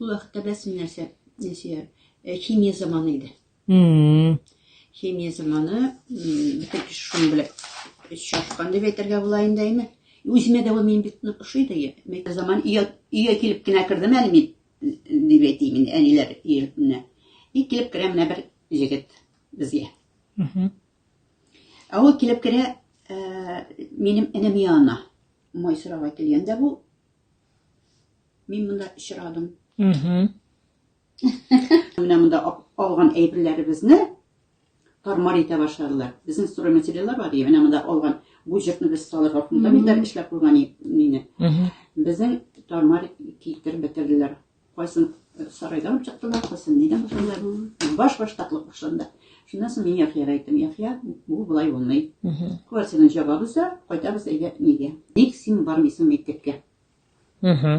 Ул вакытта беләсең нәрсә, Нәсия, э, химия заманы иде. Мм. Химия заманы, бөтен кеше шуны белеп чашкан дип әйтергә була инде әйме. Үземә дә ул мин бик нык ошый да я. Мәктәп заман өйгә өйгә килеп кенә кердем әле мин дип әйтим инде әниләр өенә. И килеп керә менә бер егет безгә. Мм. Ә ул килеп керә, э, минем энем янына. Мой сорауга килгәндә бу Мин монда очрадым. Менә монда алган әйберләребезне тармар итә башладылар. Безнең строй материаллар бар ди, менә монда алган бу җыртны без салырга фундаментар эшләп куйган мине. Безнең тармар китереп бетерделәр. Кайсын э, сарайдан алып чыктылар, кайсын нидән башладылар. Баш баш татлык башланды. Шуннан соң мин Яхьяга әйттем, Яхья, бу болай булмый. Квартираны җабабыз да, кайтабыз әйдә нигә? Ник син бармыйсың мәктәпкә? Угу.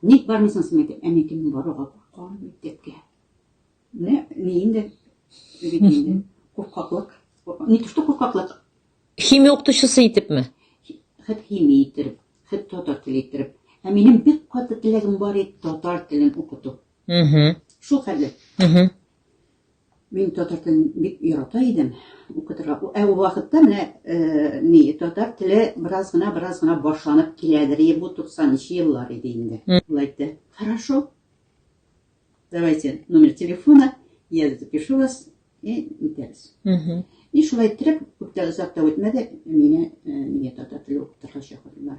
Ник бармыйсың син мәктәп? Әни кем баруга куркам мәктәпкә. Менә ни инде бит инде куркаклык. Ни төште куркаклык? Химия укытучысы итепме? Хит химия итеп, хит татар теле итеп. Ә минем бик каты теләгем бар иде татар телен укыту. Угу. Шул хәле. Угу. Мин татар телен бик ярата идем, укытырга. Ә ул вакытта менә э, ни, татар теле бераз гына, бераз гына башланып киләдер. Е, бу 90-нчы еллар иде инде. Ул әйтте, хорошо, давайте номер телефона, я запишу вас, и үтәбез. И шулай иттереп, күптә озак та үтмәде, мине э, миңа татар теле укытырга чакырдылар.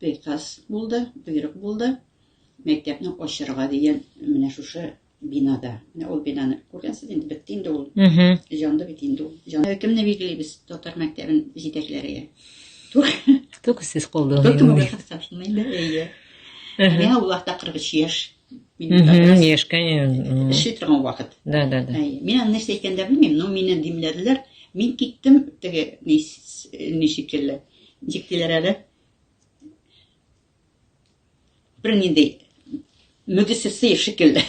приказ булды, боерык булды, мәктәпне ачырга дигән менә шушы бинада. Менә ул бинаны күргәнсез инде, бетте инде ул. Җанды бит инде ул. Җан... Э, кемне билгелибез татар мәктәбен җитәкләргә? Тук сез калдыгыз. Тук мөһим хәсәпне инде, әйе. Менә ул вакытта 43 яшь. Яшь, конечно. Эшли торган вакыт. Да, да, да. Әйе. Мин аны нәрсә әйткәндә белмим, но мине димләделәр. Мин киттем теге ничек килде. Ничек диләр әле? Бер нинди мөгезсез шикелле.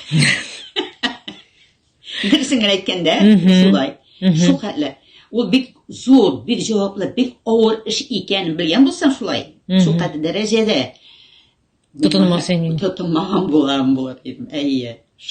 Дөресен генә әйткәндә, шулай. Шул хәтле. Ул бик зур, бик җаваплы, бик авыр эш икәнен белгән булсаң шулай, шул кадәр дәрәҗәдә тотынмас инең. Тотынмаган булам булыр идем. Әйе.